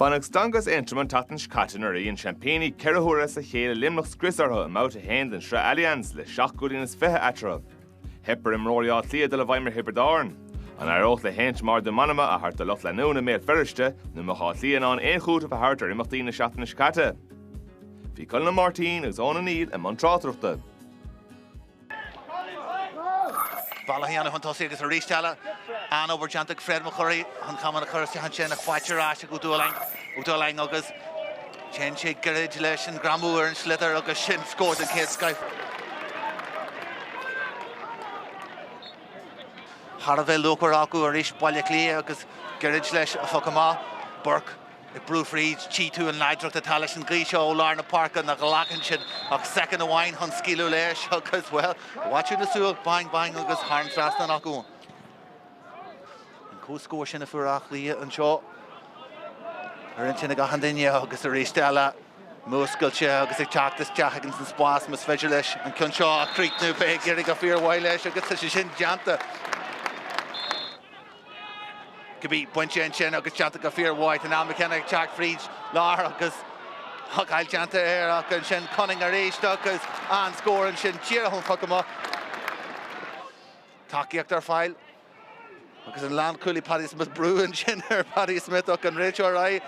Baineadh stangadh as Aontroim an tseachtain seo caite nuair a dhein seaimpíní ceithre huaire as a chéile Luimneach scrios orthu i mBabhta 1 den Sraith Allianz le seacht gcúilín is fiche eatarthu. Theip ar imreoirí Átha Cliath dul i bhfeidhm ar Thiobraid Árann. An éireodh le hAontroim ardú meanma a thabhairt do lucht leanúna i mBéal Feirste nó an mbeadh Áth Cliath in ann aon chúiteamh a thabhairt ar imeachtaí na seachtaine seo caite? Bhí Colin Ó Máirtín agus Eoin O'Neill i mbun tráchtaireachta. Bailithe cheana chun tosaigh agus arís eile, an-obair déanta ag Fred McCurry chun camán a chur isteach ansin ach faighte ar ais ag Ó Dúlaing agus téann sé gairid leis an greamú ar an sliotar agus sin scór den chéad scoith. Thar a bheith luachmhar acu arís Baile Átha Cliath agus gairid leis an phoc amach. Burke. Ag brú fríd, tchí tú an láidreacht atá leis an ghaoth seo ó lár na páirce, nach nglacann sin ach soicind amháin chun scaoileadh leis agus, bhuel, i bhfaiteadh na súl, bang, bang agus thar an trasnán acu. An comhscór sin a fuair Áth Cliath anseo, ar intinn ag achan duine agus arís eile, múscailte agus ag teacht isteach agus an spás, más féidir leis an ceann seo a chríochnú, beidh ag éirí go fíormhaith leis agus tá sé sin déanta. go mbeidh bainte ansin agus déanta go fíormhaith. Niall McKenna ag teacht fríd lár agus húcáil déanta air ach ansin Cunning arís agus an-scór ansin díreach ón phoc amach. Tacaíocht ar fáil agus an lánchúlaí Paddy Smith, brú ansin ar Paddy Smith ach an réiteoir ar aghaidh,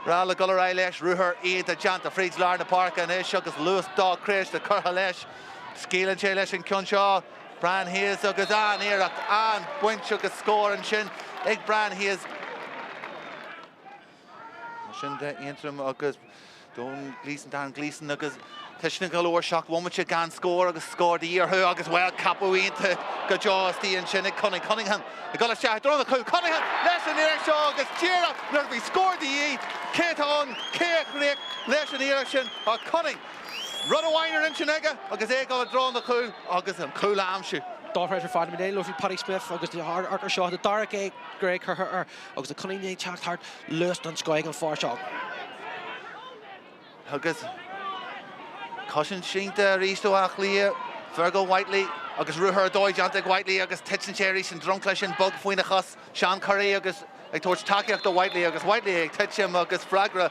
rá le dul ar aghaidh leis, ruathar iontach déanta fríd lár na páirce anois agus luas dochreidte curtha leis. Scaoileann sé leis an gceann seo. Brian Hayes agus an-iarracht, an-bhaint agus scór ansin ag Brian Hayes. Sin d'Aontroim agus don Gleeson, Darren Gleeson agus ceisteanna go leor, seacht mbomaite gan scór agus scór de dhíth orthu agus, bhuel, ceapadh iontach go deas istigh ansin ag Cunning. Cunning ag dul isteach i dtreo na cúil, Cunning leis an iarracht seo agus díreach nuair a bhí scór de dhíth, cé atá ann, cé a chríoch leis an iarracht sin ach Cunning. Rud amháin ar intinn aige agus é ag dul i dtreo na cúil agus an cúl a aimsiú. Dothread ar fad na mine, lúfaí Paddy Smith agus de arc air seo, Daire Gray curtha air agus i gcónaí ag teacht thart, luas den scoth ag an fhear seo agus cosaint sínte arís ó Áth Cliath, Fergal Whitely, agus ruathar ar dóigh déanta ag Whitely agus titeann sé arís, an dromchla sin bog faoina chos. Seán Currie agus ag tabhairt tacaíocht do Whitely agus Whitely ag titim agus freagra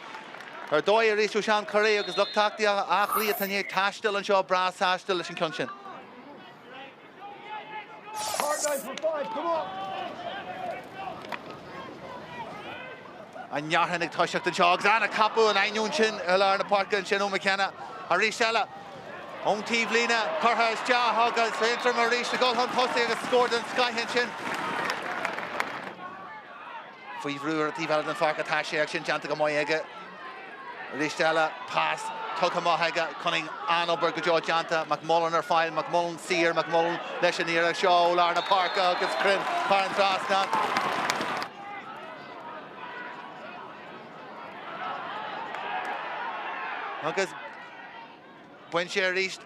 ar dóigh arís ó Seán Currie agus lucht tacaíochta Áth Cliath atá i ndiaidh taisteal anseo breá sásta leis an gceann sin. An fhearthainn ag toiseacht anseo agus an-tapaidh in ainneoin sin i lár na páirce ansin ó McKenna arís eile. Ón taobhlíne, curtha isteach agus Aontroim arís ag dul chun tosaigh agus scór den scoith ansin. Faoi bhrú ar an taobh eile den pháirc atá sé agus sin déanta go maith aige arís eile. Pas tugtha amach aige, Cunning an-obair go deo déanta, McMullan ar fáil, McMullan saor, McMullan leis an iarracht seo ó lár na páirce agus cruinn thar an trasnán. Agus bainte arís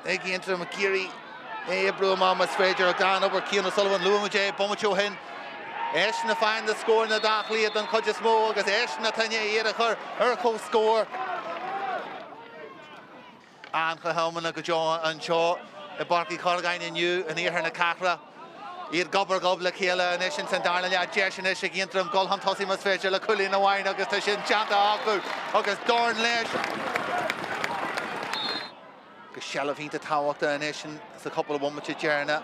ag Aontroim, ag iarraidh é a oibriú amach mas féidir gan obair. Cian O'Sullivan, luaigh muid é bomaite ó shin. Eisean a faigheann na scóranna d'Áth Cliath don chuid is mó agus eisean atá i ndiaidh iad a chur ar comhscór. An-chomhionann go deo anseo i bPáirc Uí Chorragáin inniu in iarthar na cathrach. Iad gob ar ghob le chéile anois ins an darna leath. Deis anois ag Aontroim dul chun tosaigh más féidir le cúilín amháin agus tá sin déanta acu agus dorn leis. Seilbh iontach tábhachtach anois. Sa chúpla bomaite deireanach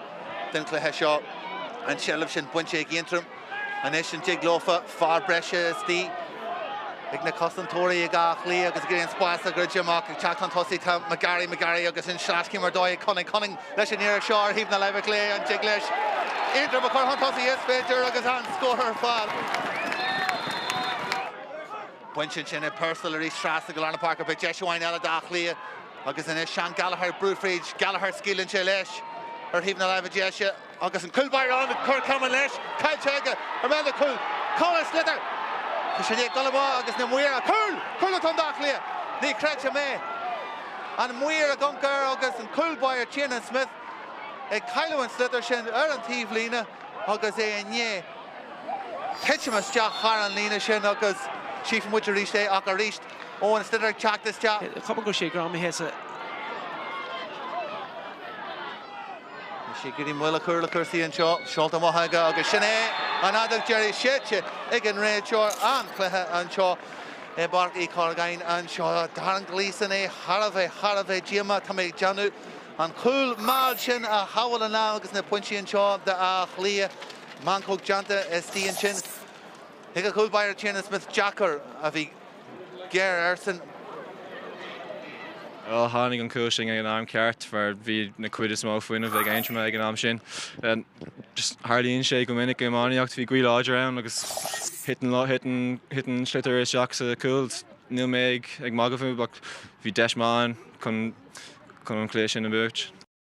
den chluiche seo, an tseilbh sin bainte ag Aontroim. Anois an dtig leofa fear breise istigh ag na cosantóirí ag Áth Cliath agus ag iarraidh an spás a dhruid amach? Ag teacht chun tosaigh tá McGarry, McGarry agus an sleaschéim ar dóigh ag Cunning, Cunning leis an iarracht seo ar thaobh na láimhe clé. An dtig leis Aontroim a chur chun tosaigh? Is féidir agus an scór ar fáil. Bainte ansin ag Purcell arís trasna go lár na páirce, beidh deis amháin eile d'Áth Cliath agus anois Seán Gallagher ag brú fríd, Gallagher, scaoileann sé leis ar thaobh na láimhe deise agus an cúl báire ann, cur camán leis, caillte aige i mbéal an chúil, cá bhfuil an sliotar! Tá sé ag dul amú agus na maoir á, cúl! Cúl atá ann d'Áth Cliath! Ní chreidim é! An maor ag amharc air agus an cúl báire Tiernan Smyth ag cailleadh an sliotar sin ar an taobhlíne agus é i ndiaidh, Titim isteach thar an líne sin agus tchífidh muid arís é ach arís an sliotar ag teacht isteach. Cuma go raibh sé greamaithe aige. Bhí sé ag iarraidh moill a chur le cúrsaí anseo. Seolta amach aige agus sin é an fheadóg deiridh séidte ag an réiteoir an cluiche anseo i bPáirc Uí Chorragáin anseo. Darren Gleeson é thar a bheith, thar a bheith díomách. Tá mé ag déanamh an cúl mall sin a shábháil an lá agus na pointí anseo d'Áth Cliath. Meancóg déanta istigh ansin. Ag an chúl báire Tiernan Smyth deacair a bheith géar airsean. Bhuel tháinig an cúl sin ag an am ceart mar bhí na cuid is mó fuinnimh ag Aontroma ag an am sin. Tharlaíonn sé go minic iománaíocht, bhí gaoth láidir ann agus thit an sliotar isteach sa chúl. Níl mé ag magadh faoi ach bhí deis maith ann chun an cluiche sin a bhuachaint.